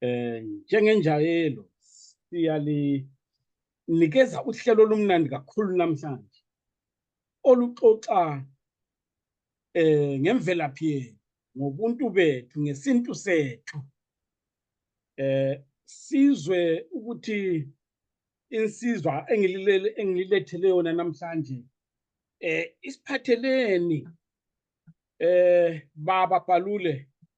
eh njengenjayelo siyalinikeza uhlelo olumnandi kakhulu namhlanje oluxoxa eh ngemvelaphi yethu ngobuntu bethu ngesintu sethu eh sizwe ukuthi insizwa engililele engililethele yona namhlanje eh isiphatheleni eh baba balule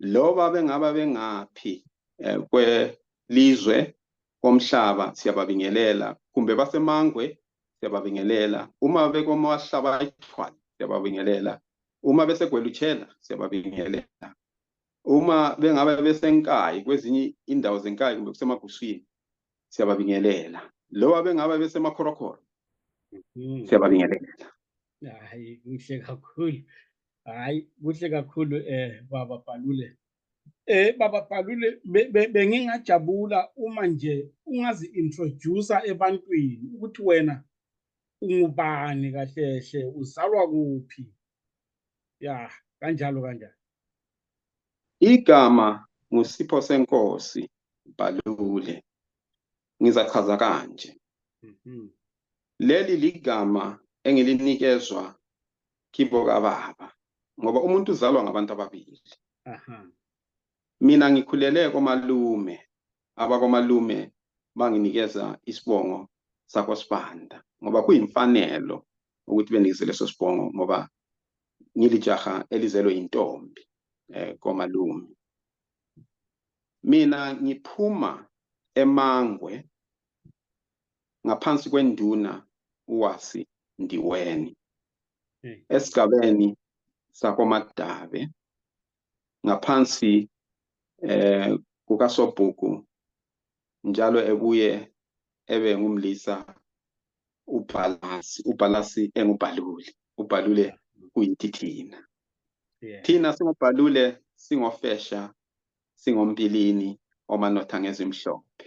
loba bengaba bengaphi eh, kwelizwe komhlaba siyababingelela kumbe basemangwe siyababingelela uma bekomahlaba ithwala siyababingelela uma besegwelutshela siyababingelela uma bengaba besenkayi kwezinye indawo zenkayi kumbe kusemaguswini siyababingelela loba bengaba besemakhorakhora mm-hmm. siyababingelela hayi kuhle kakhulu hayi kuhle kakhulu eh baba Palule eh baba Palule bengingajabula uma nje ungazi introduce ebantwini ukuthi wena ungubani kahle hle uzalwa kuphi ya kanjalo kanjalo igama ngusipho senkosi Palule ngizachaza kanje mhm. leli ligama engilinikezwa kibo kababa ngoba umuntu uzalwa ngabantu ababili mina ngikhulele komalume abakomalume banginikeza isibongo sakho sibanda ngoba kuyimfanelo ukuthi benikise leso sibongo ngoba ngilijaha elizelwe yintombi eh komalume mina ngiphuma emangwe ngaphansi kwenduna uwasi ndiweni esigabeni sakomadabe ngaphansi eh kukasobhuku njalo ebuye ebe ngumlisa ubhalasi ubhalasi engubhaluli ubhalule kuyithi thina thina singubhalule singofesha singompilini omanotha ngezimhlophe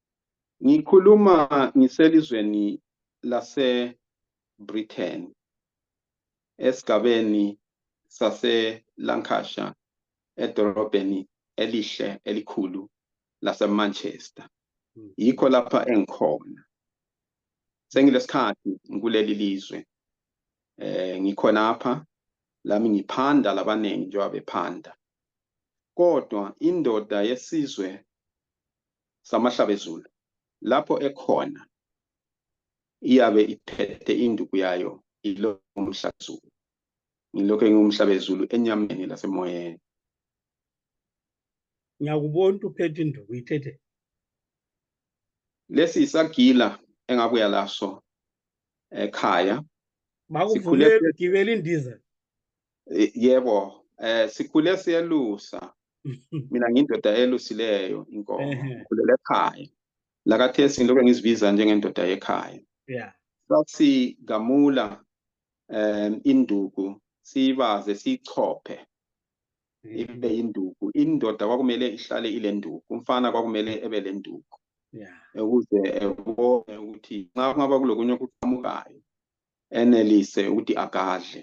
Ngikhuluma ngiselizweni lase Britain esigabeni sase Lancashire edolobheni elihle elikhulu lase Manchester hmm. yikho lapha engikhona sengilesikhathi ngikuleli lizwe eh ngikhonapha lami ngiphanda labaningi njengoba bephanda kodwa indoda yesizwe samahlabezulu lapho ekhona iyabe iphethe induku yayo ilomhlabezulu ngilokho engingumhlabezulu enyameni lasemoyeni ngiyakubona ukuthi uphethe induku ithethe lesi yisagila engabuya laso ekhaya bakuvumele ugibela indiza yebo eh sikhule siyelusa mina ngindoda elusileyo inkomo ngikhulela ekhaya lakathesi ngilokhu ngizibiza njengendoda yekhaya yeah sasigamula um induku siyibaze siyichophe mm-hmm. ibe induku indoda kwakumele ihlale ile nduku umfana kwakumele ebe le nduku ukuze ebone ukuthi nxa kungaba kulokunye okuqhamukayo enelise ukuthi agadle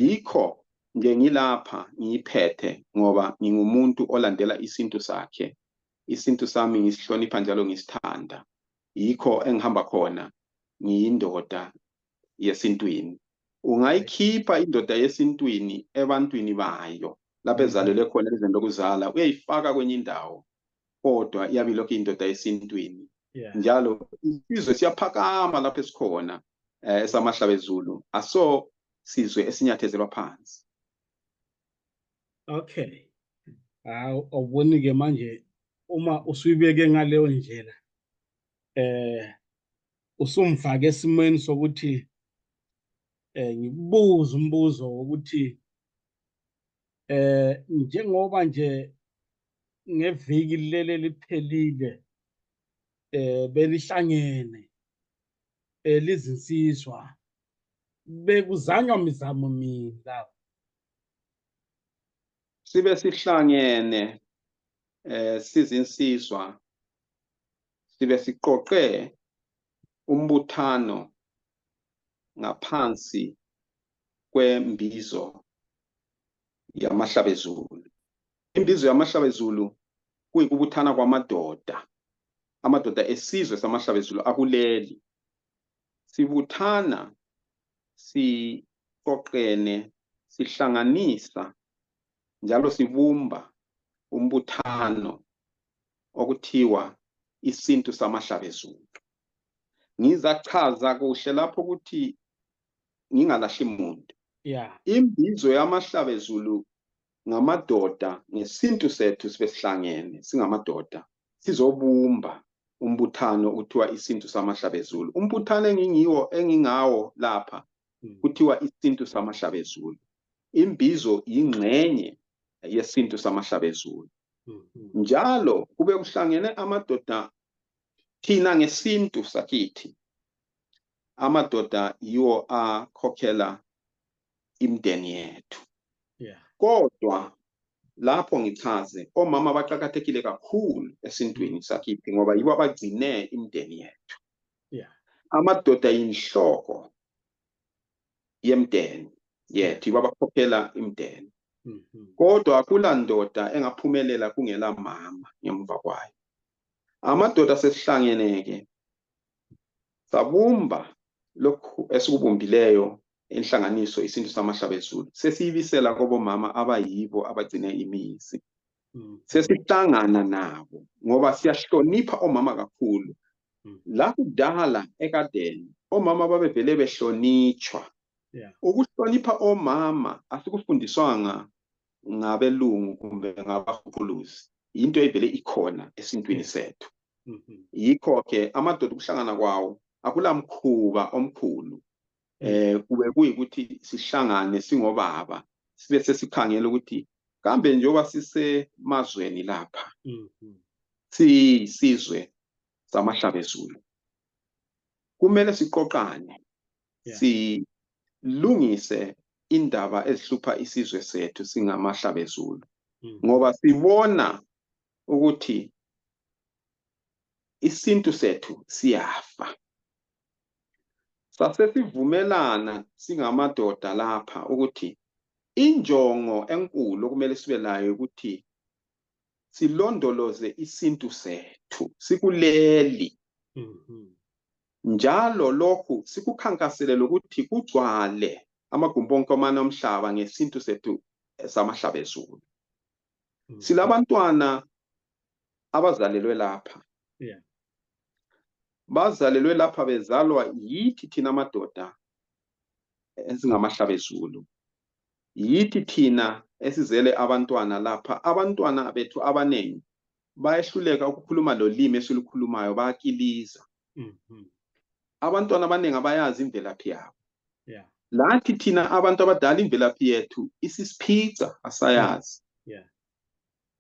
yikho nje ngilapha ngiyiphethe ngoba ngingumuntu olandela isintu sakhe isintu sami ngisihlonipha njalo ngisithanda yikho engihamba khona ngiyindoda yesintwini ungayikhipha indoda yesintwini ebantwini bayo lapho ezalelwe khona elizweni lokuzala uyayifaka kwenye indawo kodwa iyabe ilokhu indoda esintwini njalo isizwe siyaphakama lapho esikhona eh, esamahlabezulu aso sizwe esinyathezelwa phansi okay hawu awuboni ke manje uma usuyibeke ngaleyo ndlela eh usumfake esimweni sokuthi eh ngikubuza umbuzo wokuthi eh njengoba nje ngeviki leli liphelile eh belihlangene elizinsizwa eh, bekuzanywa mizamo mina sibe sihlangene eh sizinsizwa sibe siqoqe umbuthano ngaphansi kwembizo yamahlabezulu Imbizo yamahlabezulu kuyikubuthana kwamadoda amadoda esizwe samahlabezulu akuleli sibuthana siqoqene sihlanganisa njalo sibumba umbuthano okuthiwa isintu samahlabezulu ngizachaza kuhle lapho ukuthi ngingalahli muntu yeah. imbizo yamahlabezulu ngamadoda ngesintu sethu sibesihlangene singamadoda sizobumba umbuthano kuthiwa isintu samahlabezulu umbuthano engingiwo engingawo lapha hmm. kuthiwa isintu samahlabezulu imbizo yingxenye yesintu samahlabezulu hmm. njalo kube kuhlangene amadoda thina ngesintu sakithi amadoda yiwo akhokhela imdeni yethu yeah. kodwa lapho ngichaze omama baqakathekile kakhulu esintwini sakithi ngoba yibo abagcine imdeni yethu yeah. amadoda yinhloko yemdeni yethu yibo abakhokhela imdeni mm -hmm. kodwa kula ndoda engaphumelela kungela mama ngemva kwayo amadoda sesihlangene-ke sabumba lokhu esikubumbileyo inhlanganiso isintu samahlaba ezulu sesiyibisela kobomama abayibo abagcine imizi hmm. sesihlangana nabo ngoba siyahlonipha omama kakhulu hmm. lakudala ekadeni omama babevele behlonitshwa ukuhlonipha omama asikufundiswanga ngabelungu kumbe ngabahuphuluzi yinto evele ikhona esintwini sethu mm-hmm. yikho-ke amadoda ukuhlangana kwawo akulamkhuba omkhulu eh kube kuyikuthi sihlangane singobaba sibe sesikhangela ukuthi kambe njengoba sisemazweni lapha mm-hmm. siyisizwe samahlabezulu kumele siqoqane yeah. silungise indaba ezihlupha isizwe sethu singamahlabezulu mm. ngoba sibona ukuthi isintu sethu siyafa sasesivumelana singamadoda lapha ukuthi injongo enkulu okumele sibe layo ukuthi silondoloze isintu sethu sikuleli mhm. njalo lokhu sikukhankasele lokuthi kugcwale amagumbi onke omane omhlaba ngesintu sethu samahlaba ezulu mhm. silabantwana abazalelwe lapha bazalelwe lapha bezalwa yithi thina amadoda esingamahlaba ezulu yithi thina esizele abantwana lapha abantwana bethu abanengi bayehluleka ukukhuluma lolimi esilukhulumayo bayakiliza mm-hmm. abantwana abaningi abayazi imvelaphi yabo lathi thina abantu abadala imvelaphi yethu isisiphica asayazi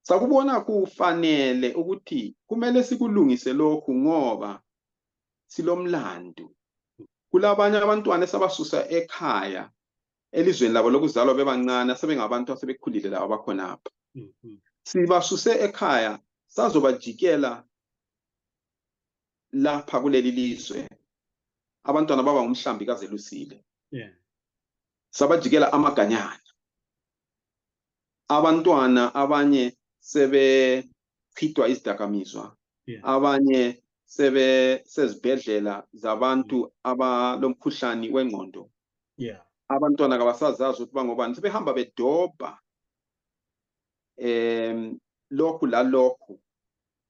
sakubona kufanele ukuthi kumele sikulungise lokhu ngoba silomlandu kulabanye abantwana esabasusa ekhaya elizweni labo lokuzalwa bebancane asebengabantu asebekhulile labo abakhonapha mm-hmm. sibasuse ekhaya sazobajikela lapha kuleli lizwe abantwana baba ngumhlambi kazelusile yeah. sabajikela amaganyana abantwana abanye sebechithwa izidakamizwa yeah. abanye sebe sezibhedlela zabantu mm. abalomkhuhlane wengqondo yeah abantwana kabasazazi ukuthi bangobani sebehamba bedobha um lokhu lalokhu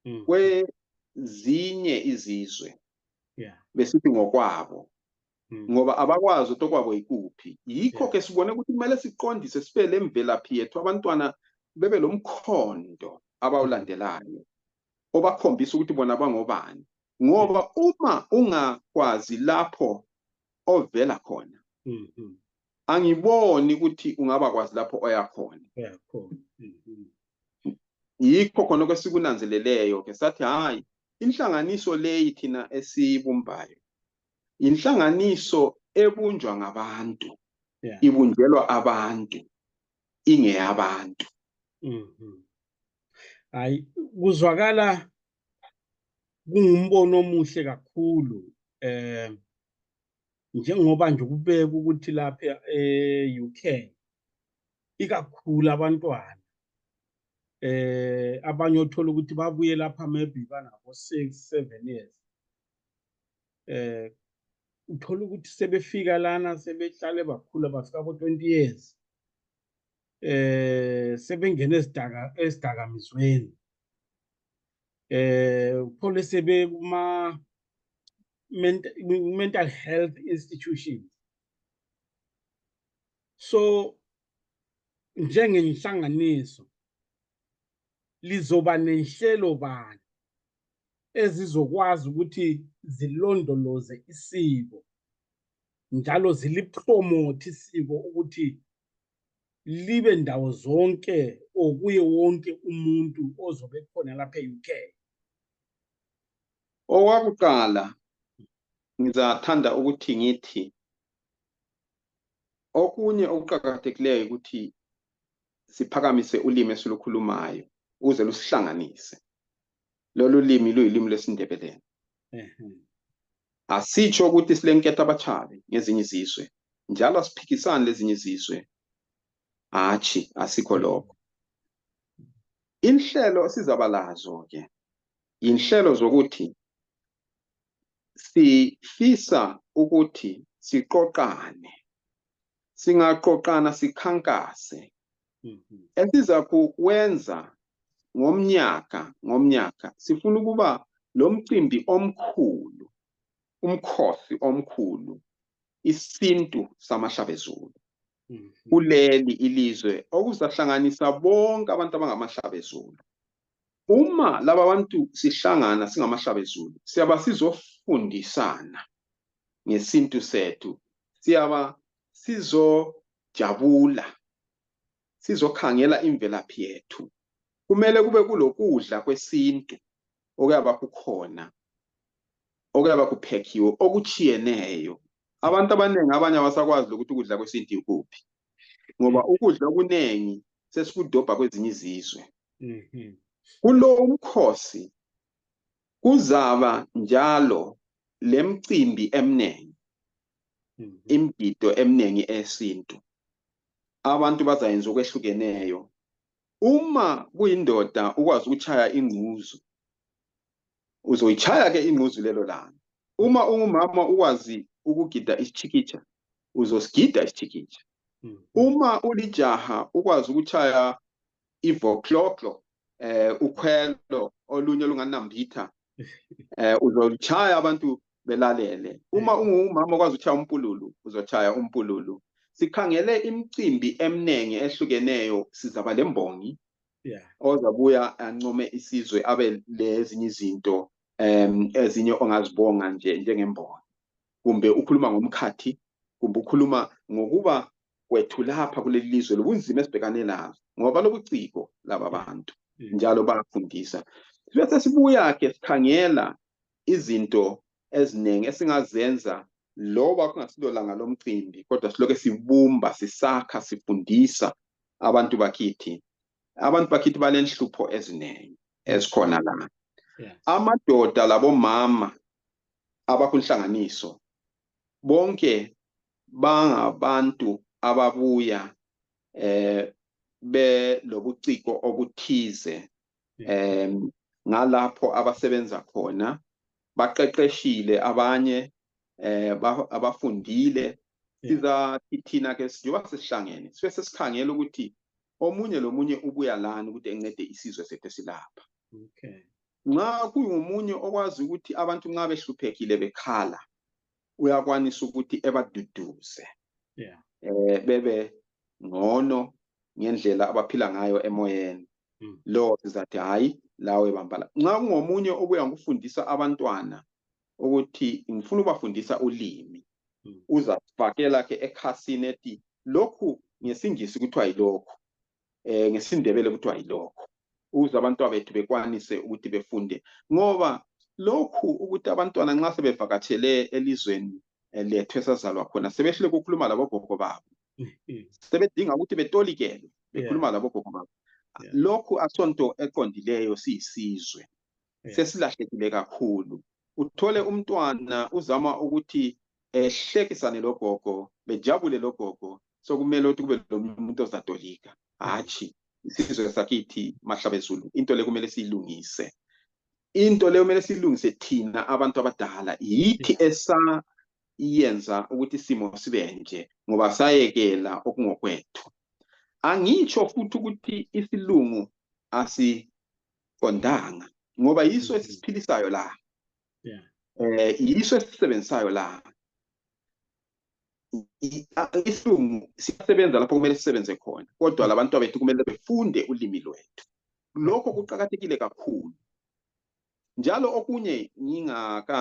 mm. kwezinye izizwe yeah. besithi ngokwabo mm. ngoba abakwazi ukuthi okwabo yikuphi yikho ke yeah. sibone ukuthi kumele siqondise sibe le mvelaphi yethu abantwana bebe lo mkhondo abawulandelayo obakhombisa ukuthi bona bangobani ngoba uma ungakwazi lapho ovela khona mm -hmm. angiboni ukuthi ungaba kwazi lapho oyakhona yeah, cool. mm -hmm. yikho khona kwesikunanzeleleyo ke sathi hayi inhlanganiso leyi thina esiyibumbayo yinhlanganiso ebunjwa ngabantu yeah. ibunjelwa abantu ingeyabantu mm -hmm. hayi kuzwakala kungumbono omuhle kakhulu eh njengoba nje kubeka ukuthi lapha e-UK ikakhulu abantwana eh abanye othola ukuthi babuye lapha maybe banabo 6 7 years eh uthola ukuthi sebefika lana sebehlale bakhula bafika ko 20 years eh sebengena esidaka esidakamizweni eh uphole sebe kuma mental health institutions so njengenhlanganiso lizoba nenhlelo bani ezizokwazi ukuthi zilondoloze isiko njalo zilipromote isiko ukuthi libe ndawo zonke okuye wonke umuntu ozobe khona lapha e-UK owakuqala ngizathanda ukuthi ngithi okunye okuqakathekileyo ukuthi siphakamise ulimi esilukhulumayo ukuze lusihlanganise lolu limi luyilimi lwesindebeleni asitsho ukuthi silenketha abatshabi ngezinye izizwe njalo asiphikisani lezinye izizwe hatshi asikho lokho inhlelo esizaba lazo ke inhlelo zokuthi sifisa ukuthi siqoqane singaqoqana sikhankase mhm. esiza kuwenza ngomnyaka ngomnyaka sifuna ukuba lo mcimbi omkhulu umkhosi omkhulu isintu samahlabezulu mhm. kuleli ilizwe okuzahlanganisa bonke abantu abangamahlabezulu uma laba bantu sihlangana singamahlabezulu siyaba sizofundisana ngesintu sethu siyaba sizojabula sizokhangela imvelaphi yethu kumele kube kulokudla kwesintu okuyaba kukhona okuyaba kuphekhiwe okutshiyeneyo abantu abaningi abanye abasakwazi lokuthi ukudla kwesintu yikuphi ngoba ukudla okuningi sesikudobha kwezinye izizwe Mhm. Kulo umkhosi kuzaba njalo lemcimbi emnengi, Mhm. imgido emnengi eyesintu. Abantu bazayenza okwehlukeneyo. Uma kuyindoda ukwazi ukutshaya ingquzu, uzoyitshaya ke ingquzu lelo langa. Uma ungumama ukwazi ukugida isitshikitsha, uzosigida isitshikitsha. Mhm. Uma ulijaha ukwazi ukutshaya ivokloklo eh ukhwelo olunye olunganambitha eh uzochaya abantu belalele uma eh. ungumama okwazi ukuchaya umpululu uzochaya umpululu sikhangele imicimbi eminingi ehlukeneyo sizaba lembongi yeah ozabuya ancome isizwe abe lezinye izinto em ezinye ongazibonga nje njengembongi kumbe ukhuluma ngomkhathi kumbe ukhuluma ngokuba kwethu lapha kuleli lizwe lobunzima esibhekane lazo ngoba lobuciko laba bantu mm. njalo bayafundisa sibe sesibuya-ke sikhangela izinto eziningi esingazenza loba kungasilo langa lomcimbi kodwa siloke sibumba sisakha sifundisa abantu bakithi abantu bakithi balenhlupho eziningi ezikhona la amadoda labomama abakunhlanganiso bonke bangabantu ababuya eh belobuciko obuthize eh ngalapho abasebenza khona baqeqeshile abanye eh abafundile sizathi thina ke sijoba sesihlangene sibe sesikhangela ukuthi omunye lomunye ubuya lani ukuthi encede isizwe sethu silapha okay nxa kungomunye okwazi ukuthi abantu nxa behluphekile bekhala uyakwanisa ukuthi ebaduduze yeah. eh, bebe ngcono ngendlela abaphila ngayo emoyeni mm. lo sizathi hayi lawe bambala nxa kungomunye obuya ngikufundisa abantwana ukuthi ngifuna ubafundisa ulimi mm. uzafakela ke ekhasini ethi lokhu ngesingisi kuthiwa yilokhu eh ngesindebele kuthiwa yilokho ukuze abantwana bethu bekwanise ukuthi befunde ngoba lokhu ukuthi abantwana nxa sebevakatshele elizweni eh, lethu esazalwa khona sebehlule ukukhuluma labogogo babo mm-hmm. sebedinga ukuthi betolikele bekhuluma labogogo babo lokhu asonto eqondileyo siyisizwe Yes. sesilahlekile kakhulu uthole umntwana uzama ukuthi ehlekisane logogo bejabule logogo sokumele ukuthi kube lomunye umuntu ozatolika hatshi isizwe sakithi mahlabezulu into le kumele siyilungise into le kumele siyilungise thina abantu abadala yithi esayenza ukuthi isimo sibe nje ngoba sayekela okungokwethu angitsho futhi ukuthi isilungu asi qondanga ngoba yiso mm. esisiphilisayo la yeah eh yiso esisebenzisayo la isilungu siyasebenza lapho kumele sisebenze khona kodwa mm. labantu abethu kumele befunde ulimi lwethu lokho kuqakathekile kakhulu njalo okunye ngingaka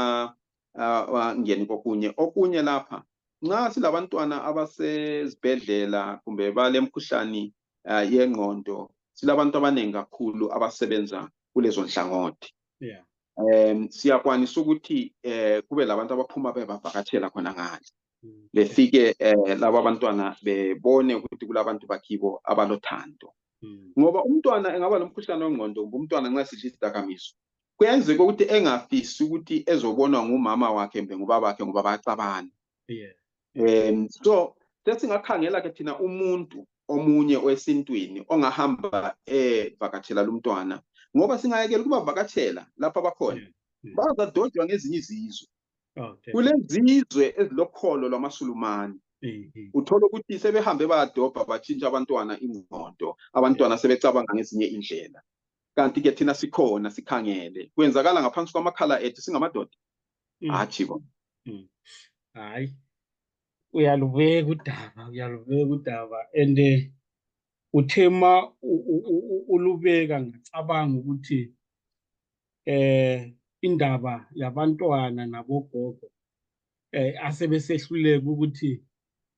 uh, ngeni kokunye okunye lapha nxa silabantwana abasezibhedlela kumbe balemkhuhlane uh, yengqondo silabantu abaningi kakhulu abasebenza kulezo nhlangothi yeah. um siyakwanisa ukuthi um kube labantu abaphuma bebavakatshela khona ngale mm. befike um eh, laba abantwana bebone ukuthi kulabantu bakibo abalothando mm. ngoba umntwana engaba nomkhuhlane wengqondo kumbe umntwana nxa sidla izidakamizwa kuyenzeka ukuthi engafisi ukuthi ezobonwa ngumama wakhe mbe ngubabakhe ngoba bayaxabana um so sesingakhangela ke thina umuntu omunye owesintwini ongahamba evakatshela eh, lumntwana ngoba singayekela ukubavakatshela lapha bakhona hmm. bazadojwa ngezinye izizwe oh, kulezizwe ezilokholo lwamasulumane hmm. uthole ukuthi sebehambe bayadobha batshintsha abantwana ingqondo abantwana sebecabanga ngezinye indlela kanti-ke thina sikhona sikhangele kwenzakala ngaphansi kwamakhala ethu singamadoda mm. hatshi bo mm. hayi uyalubeka udaba uyalubeka udaba and eh, uthe ma ulubeka ngacabanga ukuthi eh indaba yabantwana nabogogo eh asebesehluleka ukuthi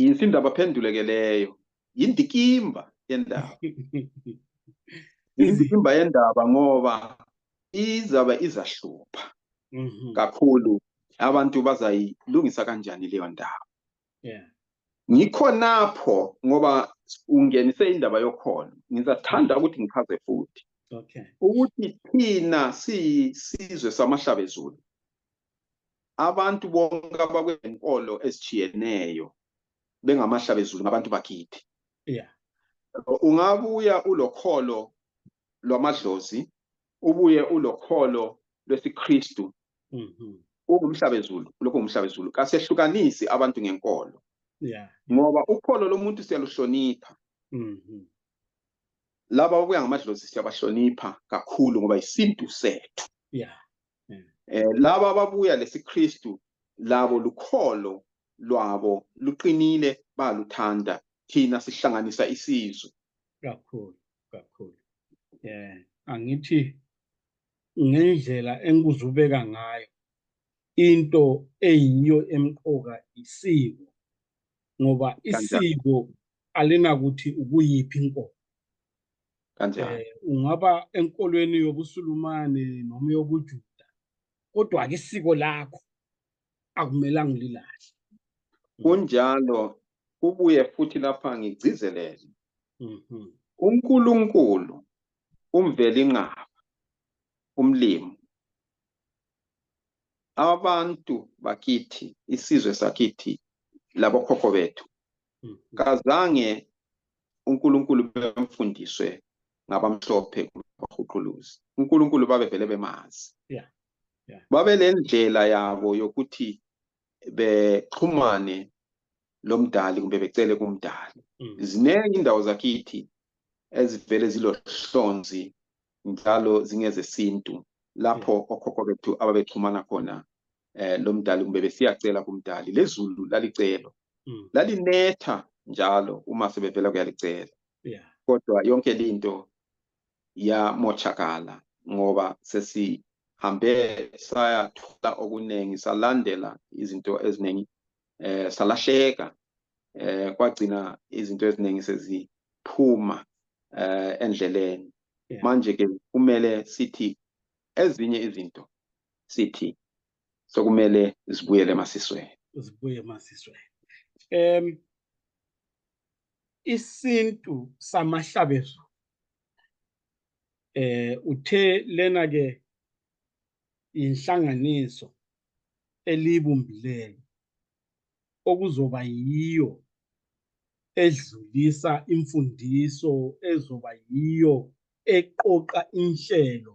yinsimbi abaphenduleke leyo yindikimba yendaba yindikimba yendaba ngoba izabe izahlupha mhm. kakhulu abantu bazayilungisa kanjani leyo ndaba ngikhonapho ngoba ungenise indaba yokholo ngizathanda ukuthi ngichaze futhi ukuthi thina siyisizwe samahlabezulu abantu bonke abakwenkolo ezitshiyeneyo bengamahlabezulu ngabantu bakithi yeah. ungabuya ulokholo lwamadlozi ubuye ulokholo lwesikristu mm -hmm. ungumhlabezulu lokho ngumhlabezulu kasehlukanisi abantu ngenkolo yeah. ngoba ukholo lomuntu siyaluhlonipha mm -hmm. laba okuya ngamadlozi siyabahlonipha kakhulu ngoba yisintu sethu yeah. mm. eh laba ababuya lesiKristu labo lukholo lwabo luqinile baluthanda thina sihlanganisa isizwe kakhulu kakhulu yeah angithi ngendlela engikuzubeka ngayo into eyiyo emqoka isiko ngoba isiko alinakuthi ukuyiphi inkomo kanjani eh, ungaba enkolweni yobusulumane noma yobujuda kodwa ke isiko lakho akumelanga ulilahle kunjalo kubuye futhi lapha ngigcizelele mhm. uNkulunkulu umveli inqaba umlimo abantu bakithi isizwe sakithi labokhokho bethu hmm. kazange uNkulunkulu bemfundiswe ngabamhlophe bahuquluzi uNkulunkulu babevele bemazi yeah yeah babelendlela yabo yokuthi bexhumane lomdali kumbe becele kumdali hmm. ziningi indawo zakithi ezivele zilohlonzi njalo zingezesintu lapho okhokho bethu ababexhumana khona eh, lomdali kumbe besiyacela kumdali lezulu lalicelo mm. lalinetha njalo uma sebevela kuyalicela yeah. kodwa yonke linto yamochakala ngoba sesihambe sayathola okuningi salandela izinto eziningi eh salahleka eh kwagcina izinto eziningi seziphuma eh endleleni manje ke kumele sithi ezinye izinto sithi sokumele zibuyele emasisweni zibuye emasisweni um isintu samahlabezo eh uthe lena ke inhlanganiso elibumbileyo okuzoba yiyo edlulisa imfundiso ezoba yiyo eqoqa inhlelo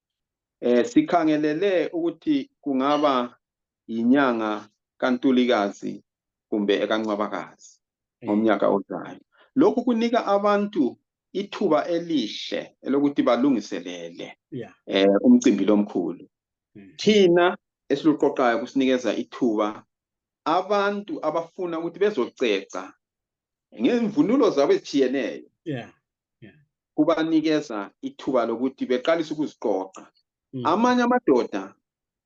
Eh sikhangelele ukuthi kungaba yinyanga kaNtulikazi kumbe ekaNcwabakazi ngomnyaka ozayo. Lokhu kunika abantu ithuba elihle elokuthi balungiselele yeah. eh umcimbi lomkhulu. Hmm. Thina esiluqoqayo kusinikeza ithuba abantu abafuna ukuthi bezoceca ngemvunulo zabo ezitshiyeneyo yeah. Yeah. kubanikeza ithuba lokuthi beqalise ukuziqoqa Mm. amanye amadoda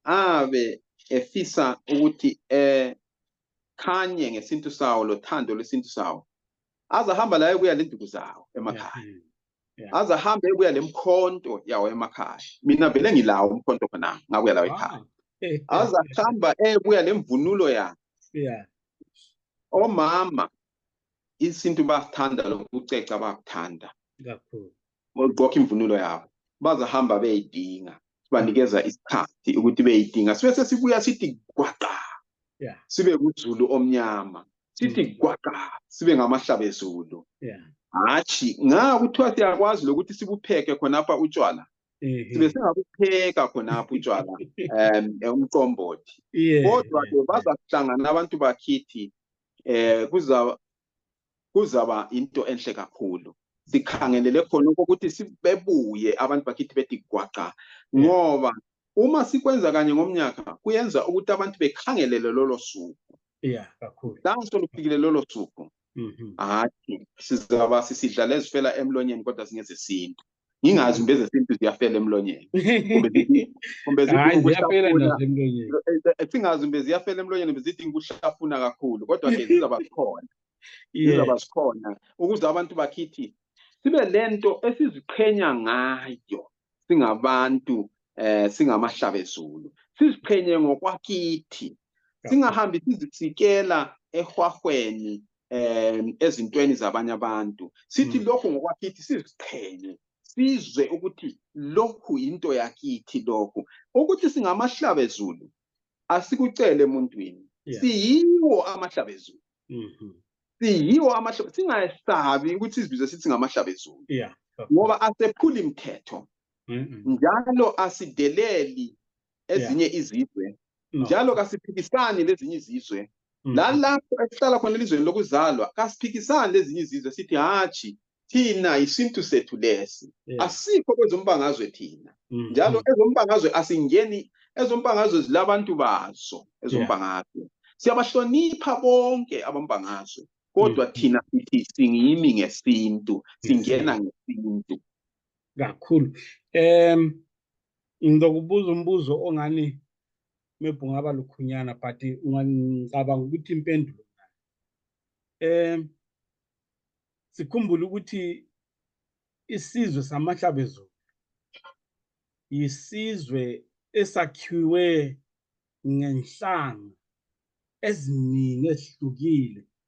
abe efisa ukuthi ekhanye ngesintu sawo lothando lwesintu sawo azahamba laye kuya lenduku zawo emakhaya Yeah. Mm. azahambe kuya lemkhonto yawo emakhaya mina vele ngilawo umkhonto khona ngakuya lawo ekhaya Wow. azahamba ebuya lemvunulo yakhe Yeah. omama isintu bayakuthanda lokuceca bayakuthanda kakhulu bagqoka imvunulo yabo bazahamba beyidinga sibanikeza isikhathi ukuthi beyidinga sibe sesibuya sithi gwaqa yeah. sibe kuzulu omnyama sithi mm. gwaqa sibe ngamahlabe zulu yeah. hatshi nga kuthiwa siyakwazi lokuthi sibupheke khonapha utshwala sibe singakupheka khonapho utshwala um umqombothi kodwa-ke bazakuhlangana abantu bakhithi eh kuzaba kuzaba into enhle kakhulu sikhangelele khona ukuthi sibebuye abantu bakithi bethi gwaqa ngoba uma sikwenza kanye ngomnyaka kuyenza ukuthi abantu bekhangelele lolo suku yeah kakhulu danso lufikile lolo suku mhm. hathi sizaba sisidlala ezifela emlonyeni kodwa singezesintu ngingazi kumbe ezesintu ziyafela emlonyeni kumbe singazi kumbe ziyafela emlonyeni kumbe zidinga ukuhlafuna kakhulu kodwa ke zizaba zikhona zizaba zikhona ukuze abantu bakhithi sibe le nto esiziqhenya ngayo singabantu um singamahlabezulu siziqhenye ngokwakithi singahambi sizisikela ehwahweni um ezintweni zabanye abantu sithi mm. lokhu ngokwakithi siziqhenye sizwe ukuthi lokhu yinto yakithi lokhu ukuthi singamahlabezulu asikucele emuntwini siyiwo amahlabezulu mm-hmm. siyiwo amahlabezulu singayesabi ukuthi sizibize sithi ngamahlabezulu ngoba asephuli mthetho njalo asideleli ezinye izizwe njalo kasiphikisani lezinye izizwe mm. lalapho esihlala khona elizweni lokuzalwa kasiphikisani lezinye izizwe sithi hatshi thina yisintu sethu lesi asikho kwezombangazwe thina mm, njalo mm. ezombangazwe asingeni ezombangazwe zilabantu bazo ezombangazwe siyabahlonipha bonke abambangazwe kodwa thina sithi singimi ngesintu singena ngesintu kakhulu um ngizokubuza umbuzo ongani maybe ungaba lukhunyana but ngicabanga ukuthi impendulo um sikhumbule ukuthi isizwe samahlabezulu yisizwe esakhiwe ngenhlanga eziningi ezihlukile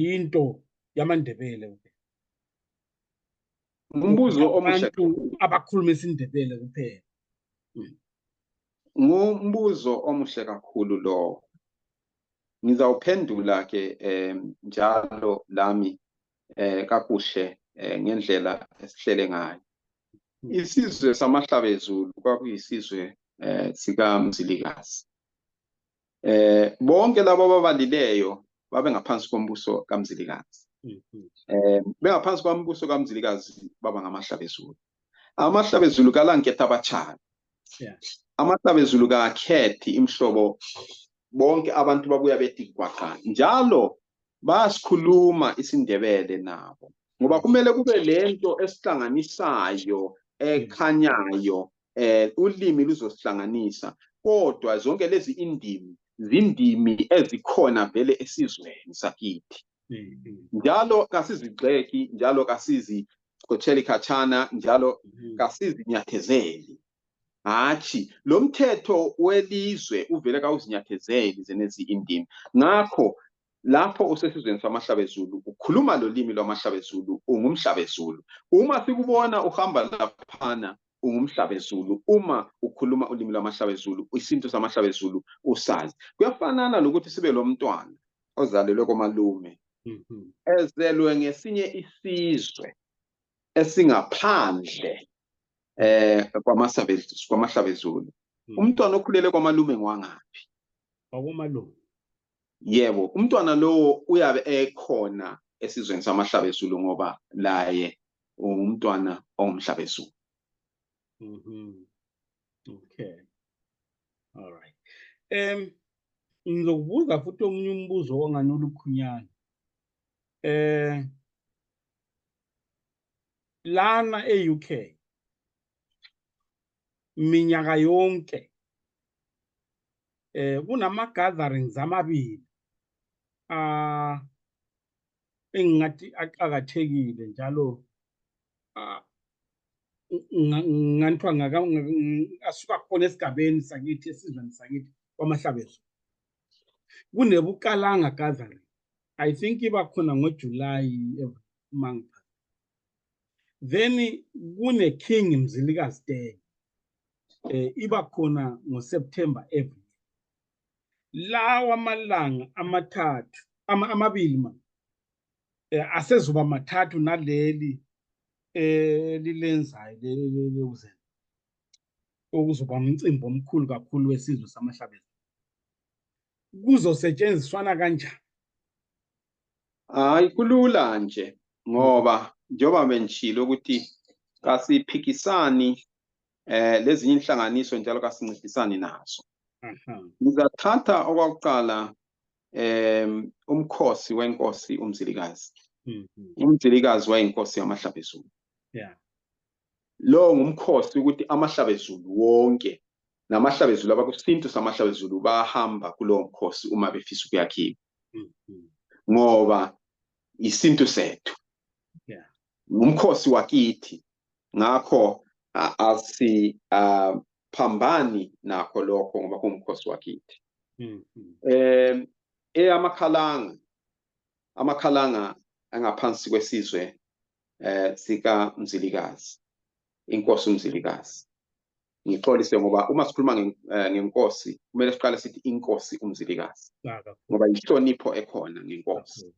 yinto yamandebele kuphela ngumbuzo omuhle abantu abakhuluma isindebele kuphela ngumbuzo omuhle kakhulu lowo ngizawuphendula ke um njalo lami um kakuhle um ngendlela esihlele ngayo hmm. isizwe samahlabezulu kwakuyisizwe um sikamzilikazi eh bonke labo ababalileyo babe ngaphansi kombuso kamzilikazi mhm. eh bengaphansi kombuso kamzilikazi baba ngamahlabezulu amahlabezulu kalanketha abachana amahlabezulu kakhethi imhlobo bonke abantu babuya bethi kwaqa njalo basikhuluma isindebele nabo ngoba kumele kube lento esihlanganisayo ekhanyayo eh ulimi luzosihlanganisa kodwa zonke lezi indimi zindimi ezikhona vele esizweni sakithi mm-hmm. njalo kasizigxeki njalo kasizixotsheli khatshana njalo mm-hmm. kasizinyathezeli hatshi lo mthetho welizwe uvele kawuzinyathezeli zenezi indimi ngakho lapho usesizweni samahlabezulu ukhuluma lolimi lwamahlabezulu ungumhlabezulu uma sikubona uhamba laphana ungumhlabezulu uma ukhuluma ulimi lwamahlabezulu isintu samahlabezulu usazi kuyafanana lokuthi sibe lomntwana ozalelwe komalume mm-hmm. ezelwe ngesinye isizwe esingaphandle eh kwamahlabezulu mm. umntwana okhulele kwamalume ngwangaphi wakomalume yebo umntwana lowo uyabe ekhona esizweni samahlabezulu ngoba laye ungumntwana ongumhlabezulu mm -hmm. okay all right um ngizokubuza futhi omunye umbuzo ongani olukhunyana eh lana e-UK minyaka yonke eh kunama-gatherings amabili uh, engingathi aqakathekile njalo uh, nganthiwa asuka khona esigabeni sakithi esizweni sakithi kwamahlabezo kunebukalanga gathering i think iba khona ngojulayi every month then kune king mzilikazi day eh iba khona ngoseptember every lawa amalanga amathathu ama, amabili ma eh, asezoba mathathu naleli eh lilenzayo leluzeni okuzoba umcimbi omkhulu kakhulu wesizwe samahlabezi kuzosetshenziswana kanjani Hayi kulula nje ngoba njengoba bengishilo ukuthi kasiphikisani eh lezinye inhlanganiso njalo kasincedisani nazo. Ngizathatha okwakuqala em umkhosi wenkosi uMzilikazi. Umzilikazi wayinkosi yamahlabezulu. Yeah. lowo ngumkhosi ukuthi amahlabezulu wonke namahlabezulu abakusintu samahlabezulu bahamba kulowo mkhosi uma befisa ukuyakhiwa mm-hmm. ngoba isintu sethu ngumkhosi wakithi ngakho asiphambani nakho lokho ngoba kungumkhosi wakithi um eyamakhalanga amakhalanga angaphansi kwesizwe eh sika Mzilikazi inkosi uMzilikazi ngixolise ngoba uma sikhuluma eh, ngenkosi kumele siqale sithi inkosi uMzilikazi ngoba inhlonipho ekhona ngenkosi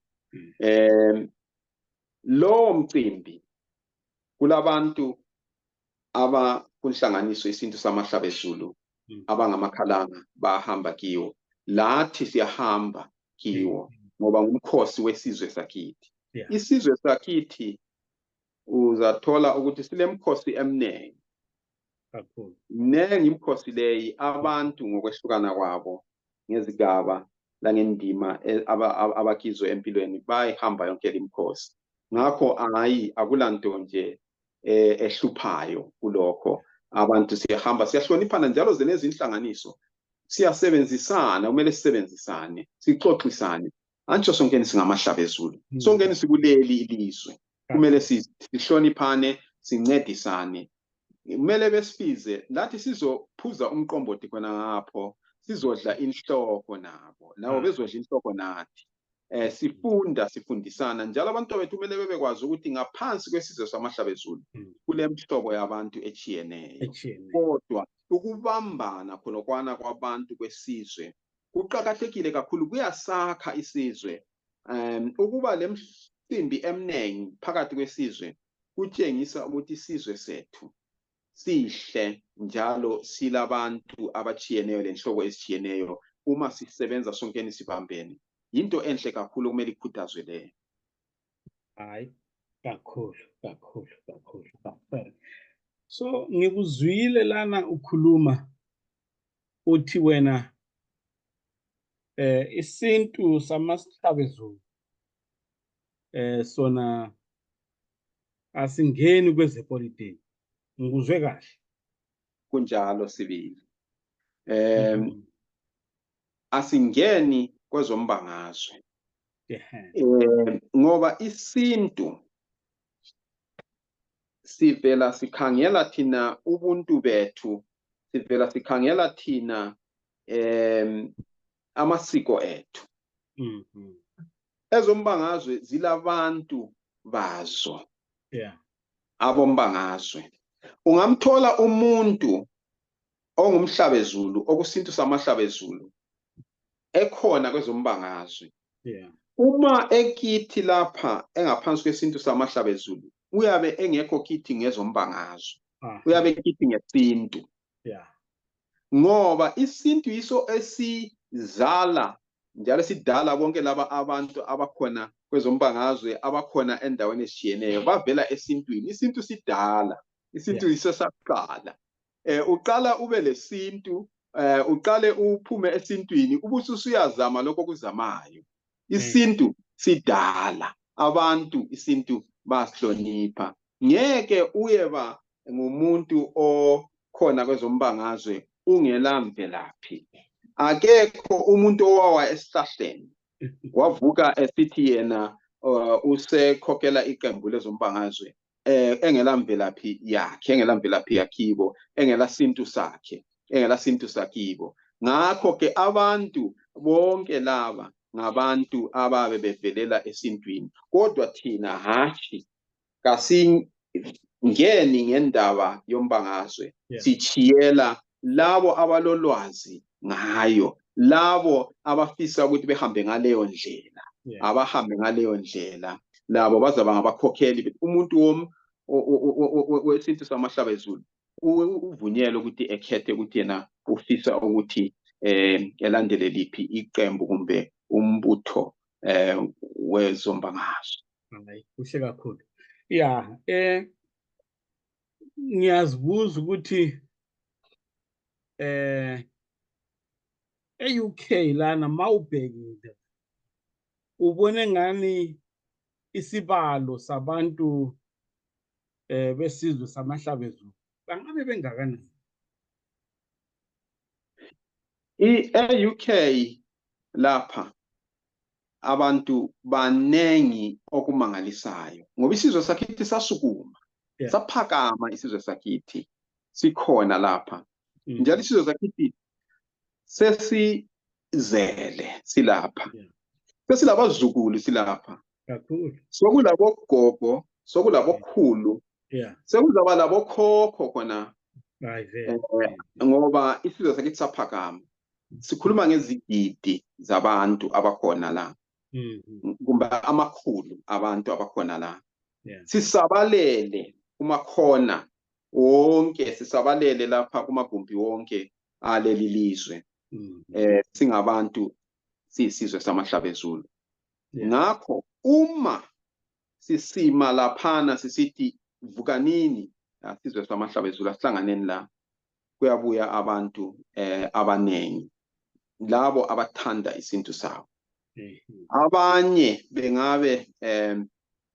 eh lowo mcimbi kulabantu abakunhlanganiso isintu samahlabezulu hmm. abangamakhalanga bahamba kiwo lathi siyahamba kiwo hmm. ngoba ngumkhosi wesizwe sakithi isizwe sakithi uzathola ukuthi silemkhosi emningi kakhulu mningi imkhosi leyi abantu ngokwehlukana kwabo ngezigaba langendima e, abakizwe empilweni bayihamba yonke limkhosi ngakho hayi akulanto nje eh, ehluphayo kulokho abantu siyahamba siyahloniphana njalo zenezinhlanganiso siyasebenzisana kumele sisebenzisane sixoxisane antsho sonkeni singamahlaba ezulu hmm. sonkeni sikuleli ilizwe hmm. kumele sihloniphane sincedisane kumele besibize lathi sizophuza umqombothi khona ngapho sizodla inhloko nabo labo hmm. bezodla inhloko nathi eh sifunda sifundisana njalo abantu bethu kumele bebekwazi ukuthi ngaphansi kwesizwe samahlabezulu hmm. kulemhlobo yabantu etshiyeneyo kodwa ukubambana khonokwana kwabantu kwesizwe kuqakathekile kakhulu kuyasakha isizwe um ukuba lemsimbi emningi phakathi kwesizwe kutshengisa ukuthi isizwe sethu sihle njalo silabantu abatshiyeneyo lenhlobo ezitshiyeneyo uma sisebenza sonkeni sibambene yinto enhle kakhulu okumele ikhuthazwe leyo hayi kakhulu kakhulu kakhulu kakhulu so ngikuzwile lana ukhuluma uthi wena eh isintu samasithabezulu eh sona asingeni kwezepolitiki ngikuzwe kahle kunjalo sibili um mhm. asingeni kwezombangazwe um ngoba isintu sivela sikhangela thina ubuntu bethu sivela sikhangela thina um amasiko ethu mhm. ezombangazwe zilabantu bazo yeah. abombangazwe ungamthola umuntu ongumhlabezulu okusintu samahlabezulu ekhona kwezombangazwe yeah. uma ekithi lapha engaphansi kwesintu samahlabezulu uyabe engekho kithi ngezombangazwe ah. uyabe kithi ngesintu yeah ngoba isintu yiso esizala njalo sidala bonke laba abantu abakhona kwezombangazwe abakhona endaweni ezitshiyeneyo bavela esintwini isintu sidala isintu yeah. yiso saqala eh uqala ube lesintu eh uqale uphume esintwini ubususuyazama lokho kuzamayo isintu sidala abantu isintu basihlonipha ngeke uyeba ngumuntu okhona kwezombangazwe ungela mvelaphi akekho umuntu owawa esihlahleni wavuka esithi yena uh, usekhokhela iqembu lezombangazwe eh engela mvelaphi yakhe engela mvelaphi yakhibo engela sintu sakhe engela sintu sakibo ngakho ke abantu bonke laba ngabantu ababe bevelela esintwini kodwa thina hatshi kasingeni ngendaba yombangazwe yeah. sitshiyela labo abalolwazi ngayo labo abafisa ukuthi behambe ngaleyo ndlela yeah. abahambe ngaleyo ndlela labo bazaba ngabakhokheli umuntu wom wesintu samahlaba ezulu uvunyelwe ukuthi ekhethe ukuthi yena ufisa ukuthi um elandele liphi iqembu kumbe umbutho um wezombangazwe hayi kuhle kakhulu ya eh ngiyazibuza ukuthi eh e-UK lana mawubhekile ubone ngani isibalo sabantu eh besizwe samahlabezulu bangabe bengakanani i-UK lapha abantu banengi okumangalisayo ngoba isizwe sakithi sasukuma yeah. saphakama isizwe sakithi sikhona lapha mm. njalo isizwe sakithi sesizele silapha yeah. sesilabazukulu silapha kakhulu sokulabogogo sokulabokhulu yeah. sekuzaba labokhokho khona eh, ngoba isizwe sakithi saphakama sikhuluma ngezigidi zabantu abakhona la mm-hmm. kumbe amakhulu abantu abakhona la sisabalele kumakhona wonke sisabalele lapha kumagumbi wonke aleli lizwe mm-hmm. eh singabantu siyisizwe samahlaba ezulu ngakho uma sisima laphana sisithi vukanini asizwe samahlaba ezulu asihlanganeni la kuyabuya abantu eh, abanengi labo abathanda isintu sabo mhm. abanye bengabe eh,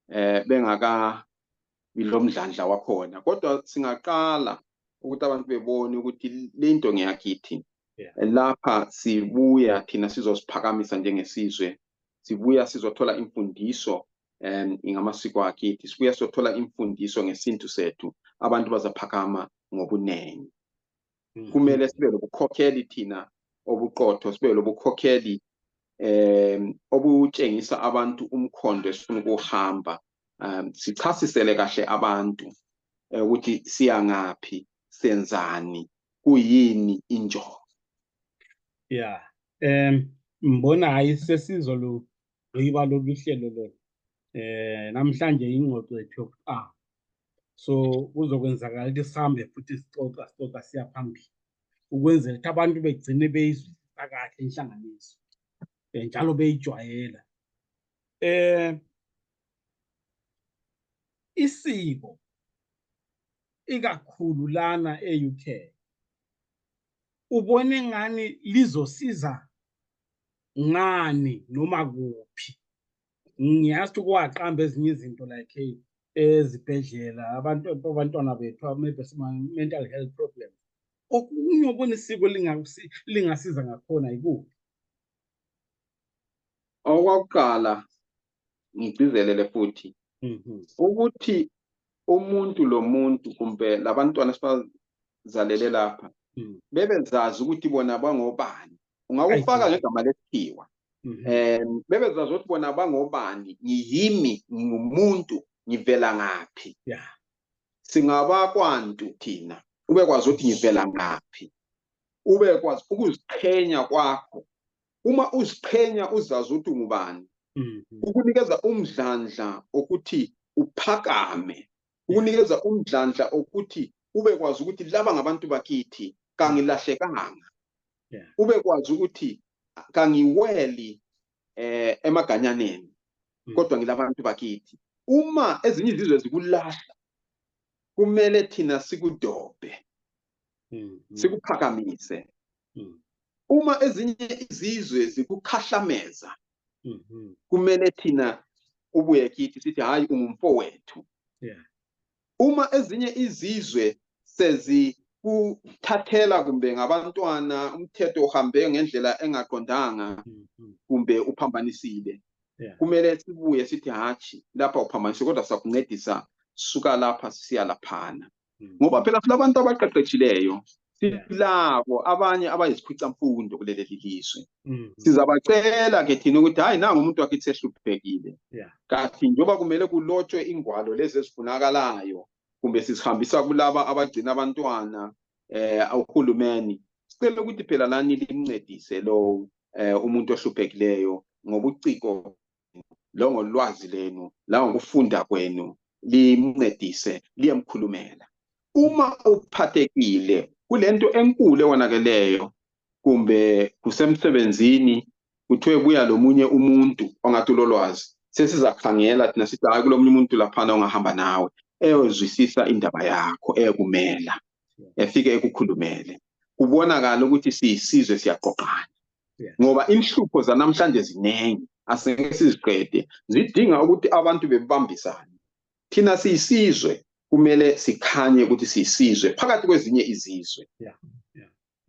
eh, bengakabi lomdlandla wakhona kodwa singaqala ukuthi abantu bebone ukuthi le nto ngeyakithi lapha sibuya thina sizosiphakamisa njengesizwe sibuya sizothola imfundiso um ngamasiko akithi sibuya sothola imfundiso ngesintu sethu abantu bazaphakama ngobunengi mm-hmm. kumele sibe lobukhokheli thina obuqotho sibe lobukhokheli um obutshengisa abantu umkhondo esifuna ukuhamba um sichasisele kahle abantu eh, ukuthi siyangaphi senzani kuyini injongo ya um mbona hayi sesizolu gqiba lolu hlelo lolu eh namhlanje ingxoxo yethu yokuqala so kuzokwenzakala ukuthi sihambe futhi sixoxa sixoxa siya phambili ukwenzela ukuthi abantu begcine beyizwisisa kahle inhlanganiso eh, njalo beyijwayela eh isiko ikakhulu lana e-UK ubone ngani lizosiza ngani noma kuphi ngiyazi ukuthi kwaqamba ezinye izinto like hey ezibhedlela abantu abantwana bethu maybe mental health problem okunye okona isiko lingasiza ngakhona yikuphi okwakuqala ngigcizelele futhi mhm. ukuthi umuntu lomuntu kumbe labantwana esibazalele lapha mhm. bebezazi ukuthi bona bangobani ungakufaka ngegama lesikhiwa um mhm. bebezazi ukuthi bona bangobani ngiyimi ngingumuntu ngivela ngaphi singabakwantu thina ubekwazi ukuthi ngivela ngaphi ubekwazi ukuziqhenya kwakho uma uziqhenya uzazi ukuthi ungubani mhm. ukunikeza umdlandla okuthi uphakame ukunikeza umdlandla okuthi ubekwazi ukuthi laba ngabantu bakithi kangilahlekanga ubekwazi ukuthi kangiweli eh emaganyaneni mm. kodwa ngilabantu bakithi uma ezinye izizwe zikulahla kumele thina sikudobhe mm, mm. sikuphakamise Mm. uma ezinye izizwe zikukhahlameza Mhm. kumele thina ubuye kithi sithi hayi ungumfowethu Yeah. uma ezinye izizwe sezikuthathela kumbe ngabantwana umthetho uhambe ngendlela engaqondanga Mhm. kumbe uphambanisile Yeah. kumele sibuye sithi hatshi lapha uphambanise kodwa siyakuncedisa suka lapha sisiya laphana hmm. ngoba phela silabantu abaqeqetshileyo silabo abanye abayizikhwicamfundo kuleli lizwe hmm. sizabacela ke thina ukuthi hhayi nangu umuntu wakhe sehluphekile kathi njengoba kumele kulotshwe ingwalo lezi ezifunakalayo kumbe sizihambisa kulaba abagcina abantwana eh uhulumeni sicela ukuthi phela lani limncedise lowo eh umuntu ohluphekileyo ngobuciko longolwazi lenu langokufunda kwenu limncedise liyemkhulumela uma uphathekile kulento enkulu ewonakeleyo kumbe kusemsebenzini kuthiwe buya lomunye umuntu ongathi ulolwazi sesizakhangela thina sithi hayi kulomunye umuntu laphana ongahamba nawe eyozwisisa indaba yakho eyokumela efike ekukhulumele kubonakala ukuthi siyisizwe siyaqoqana ngoba inhlupho zanamhlanje zinengi asingeke siziqede zidinga ukuthi abantu bebambisane thina siyisizwe kumele sikhanye ukuthi siyisizwe phakathi kwezinye izizwe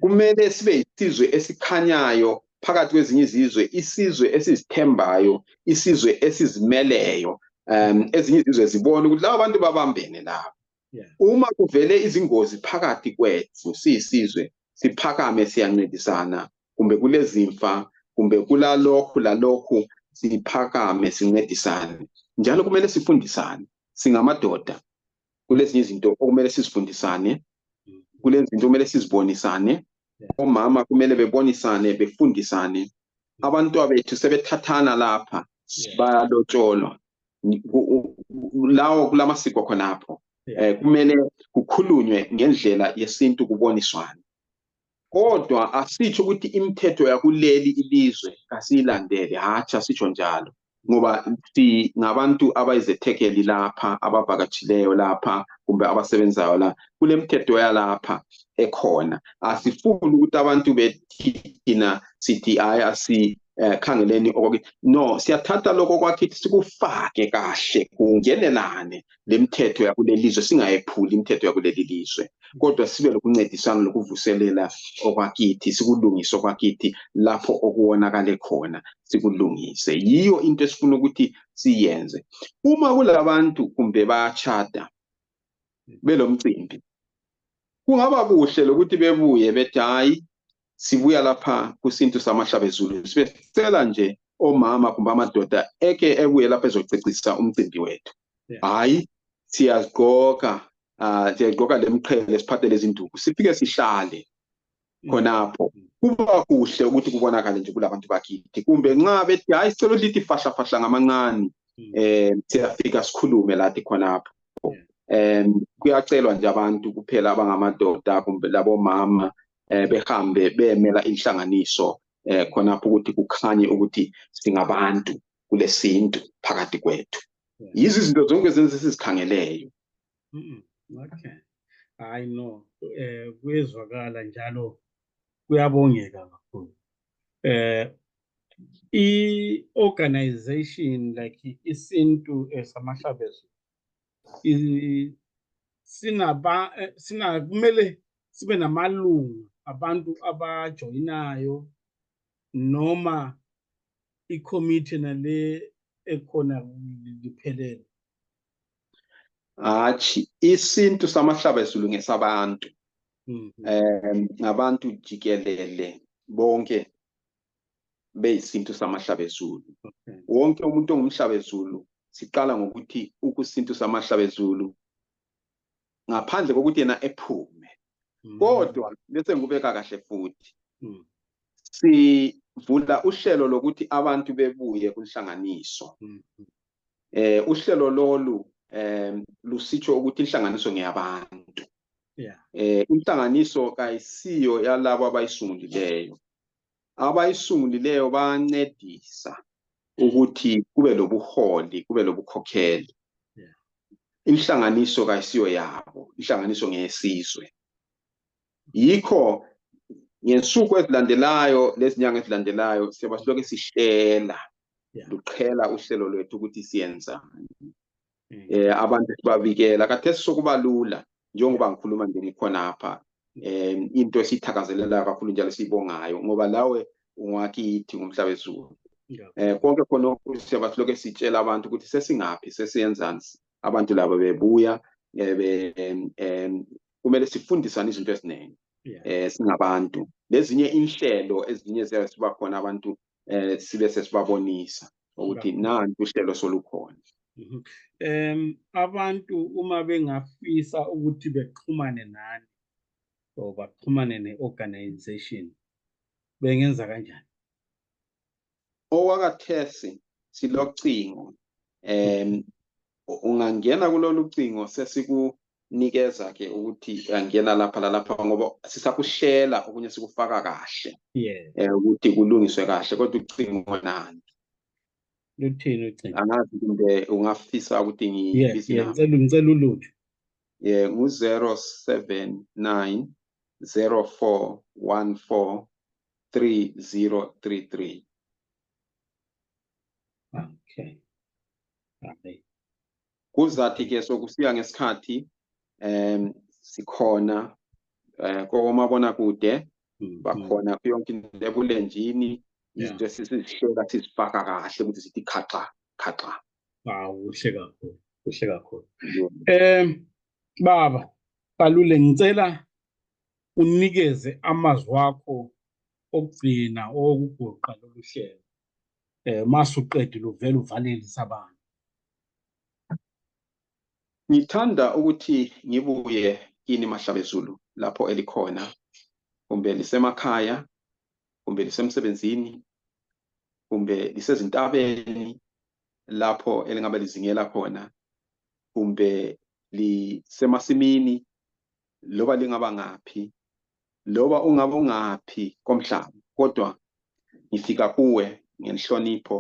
kumele sibe yisizwe esikhanyayo phakathi kwezinye izizwe isizwe esizithembayo isizwe esizimeleyo um ezinye izizwe zibone ukuthi laba bantu babambene laba Yeah. uma kuvele izingozi phakathi kwethu siyisizwe siphakame siyancintisana kumbe kulezimfa kumbe kulalokhu lalokhu siphakame sincedisane njalo kumele sifundisane singamadoda kulezinye izinto okumele sizifundisane kulezinto kumele sizibonisane omama kumele bebonisane befundisane abantwabethu sebethathana lapha bayalotsholwa lawo kulamasiko khonapho eh kumele kukhulunywe ngendlela yesintu kuboniswane kodwa asitsho ukuthi imithetho yakuleli ilizwe kasiyilandele hatshi asitsho njalo ngoba singabantu abayizethekeli lapha abavakatshileyo lapha kumbe abasebenzayo la kulemithetho yalapha ekhona asifuni ukuthi abantu bethina sithi hayi eh khangeleni okwakithi no siyathatha lokho kwakithi sikufake kahle kungenelane lemithetho yakulelizwe singayephuli imithetho yakuleli lizwe kodwa sibe lokuncedisana lokuvuselela okwakithi sikulungise okwakithi lapho okuwonakale khona sikulungise yiyo into esifuna ukuthi siyenze uma kulabantu kumbe bayachada belomcimbi kungaba kuhle lokuthi bebuye bethi hayi sibuya lapha kusintu samahlabezulu sibe sicela nje omama kumbe amadoda eke ebuye lapha ezocecisa umcimbi wethu hhayi siyazigqoka um siyagqoka le mqhele siphathe lezinduku sifike sihlale mm. khonapho kuba kuhle ukuthi kubonakale nje kulabantu bakithi kumbe nxa bethi hhayi sicela ukuthi lithi fahlafahla ngamancane um mm. siyafika sikhulume lathi khonapho um kuyacelwa nje abantu kuphela abangamadoda kumbe labomama eh, behambe beyemela inhlanganiso eh, khonapho ukuthi kukhanye ukuthi singabantu kulesintu phakathi kwethu yizo izinto zonke zenze sizikhangeleyo okay hayi no eh kuyezwakala njalo kuyabongeka kakhulu eh i-organization like isintu esamahlabezulu sinaba eh, sina kumele sibe namalungu abantu abajoyinayo noma ikhomithe nale ekhona liphelele hatshi isintu samahlaba ezulu ngesabantu um ngabantu jikelele bonke beyisintu samahlabezulu okay. wonke umuntu ongumhlabezulu siqala ngokuthi ukusintu samahlabezulu ngaphandle kokuthi yena ephume mm. kodwa bese ngikubeka kahle futhi mm. sivula uhlelo lokuthi abantu bebuye kunhlanganiso mm. eh uhlelo lolu eh lusitsho ukuthi inhlanganiso ngeyabantu yeah. eh inhlanganiso kayisiyo yalabo abayisungulileyo abayisungulileyo bayancedisa ukuthi kube lobuholi kube lobukhokheli inhlanganiso kayisiyo yabo inhlanganiso ngeyesizwe yikho ngensuku ezilandelayo lezinyanga ezilandelayo siyoba silokhu sihlela luqhela uhlelo lwethu ukuthi siyenzani mm. eh abantu sibavikela kathesi sokuba lula njengoba ngikhuluma nje ngikhonapha eh into esithakazelelayo kakhulu njalo siyibongayo ngoba lawe ungakithi ngomhlaba ezulu eh konke khona siyaba siloke sitshela abantu ukuthi sesingaphi sesiyenzani abantu laba bebuya eh, be eh, kumele sifundisane izinto eziningi eh singabantu lezinye inhlelo ezinye ziyabe siba khona abantu eh sibe sesibabonisa ukuthi nanti uhlelo solukhona mhm. em abantu uma bengafisa ukuthi bexhumane nani or baxhumane neorganization bengenza kanjani owakathesi silocingo em ungangena kulolu cingo sesikunikeza ke ukuthi angena lapha lalapha ngoba sisakuhlela okunye sikufaka kahle yes eh, ukuthi kulungiswe kahle kodwa ucingo nani luthini ucingo angazi kumbe ungafisa ukuthi ngibisi yes ngicela ngicela ulutho yeah ngu 079 0414 3033 okay Amen. Kuzathi ke sokufika ngesikhathi em sikhona eh kokomabona kude Mm, bakhona kuyo yonke into ebulenjini Yeah. izinto esisizihlola sizifaka kahle ukuthi sithi khaxa khaxa Hawu kuhle kakhulu, kuhle kakhulu. Eh baba, balule ngicela unikeze amazwi akho okugcina okugoqa lolu hlelo. eh masuqedile uvela uvalelisa abantu ngithanda ukuthi ngibuye kini mahlabezulu lapho elikhona kumbe lisemakhaya kumbe lisemsebenzini kumbe lisezintabeni lapho elingabe lizingela khona kumbe lisemasimini loba lingaba ngaphi loba ungabe ungaphi komhlaba kodwa ngifika kuwe ngenhlonipho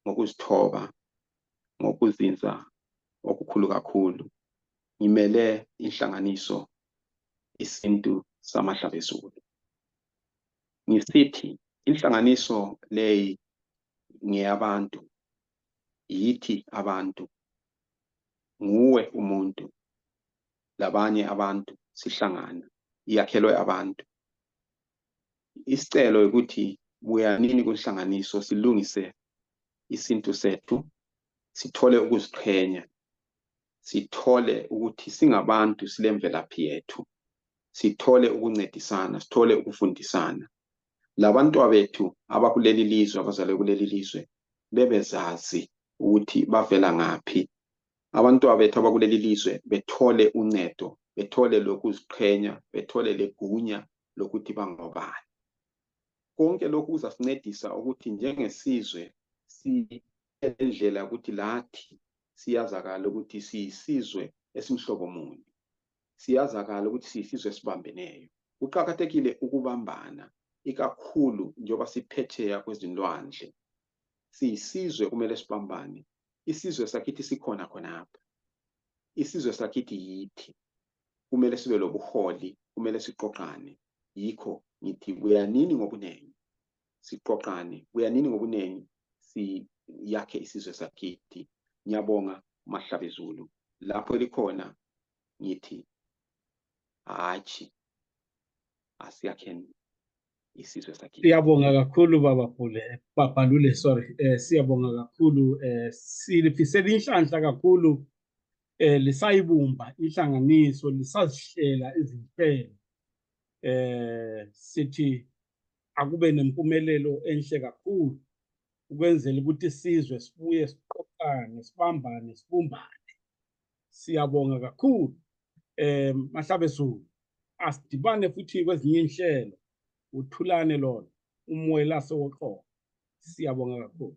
ngokuzithoba ngokuzinza okukhulu kakhulu ngimele inhlanganiso isintu samahlabezulu ngisithi inhlanganiso leyi ngeyabantu yithi abantu nguwe umuntu labanye abantu sihlangana iyakhelwe abantu isicelo ukuthi buyanini kunhlanganiso silungise isintu sethu sithole ukuziqhenya sithole ukuthi singabantu silemvelaphi yethu sithole ukuncedisana sithole ukufundisana labantwa bethu abakuleli lizwe abazalwe kuleli lizwe bebezazi ukuthi bavela ngaphi abantwana bethu abakuleli lizwe bethole uncedo bethole lokuziqhenya bethole legunya lokuthi bangobani konke lokhu kuzasincedisa ukuthi njengesizwe siyendlela ukuthi lathi siyazakala ukuthi siyisizwe esimhlobo muni siyazakala ukuthi siyisizwe esibambeneyo kuqakathekile ukubambana ikakhulu njengoba siphetsheya kwezilwandle siyisizwe kumele sibambane isizwe sakithi sikhona khonapha isizwe sakithi yithi kumele sibe lobuholi kumele siqoqane yikho ngithi kuyanini ngobuningi siqoqane kuyanini ngobuningi siyakhe isizwe sakithi ngiyabonga mahlabezulu lapho elikhona ngithi hatshi asiyakheni isizwe sakhe siyabonga kakhulu baba Pule eh, baba Lule sorry eh siyabonga kakhulu eh silifisela inhlanhla kakhulu eh lisayibumba inhlanganiso lisazihlela izimpelo eh sithi akube nempumelelo enhle kakhulu ukwenzela ukuthi isizwe sibuye siqoqane sibambane sibumbane siyabonga kakhulu eh mahlabe zulu asidibane futhi kwezinye inhlelo uthulane lona umoya laso woqobo siyabonga kakhulu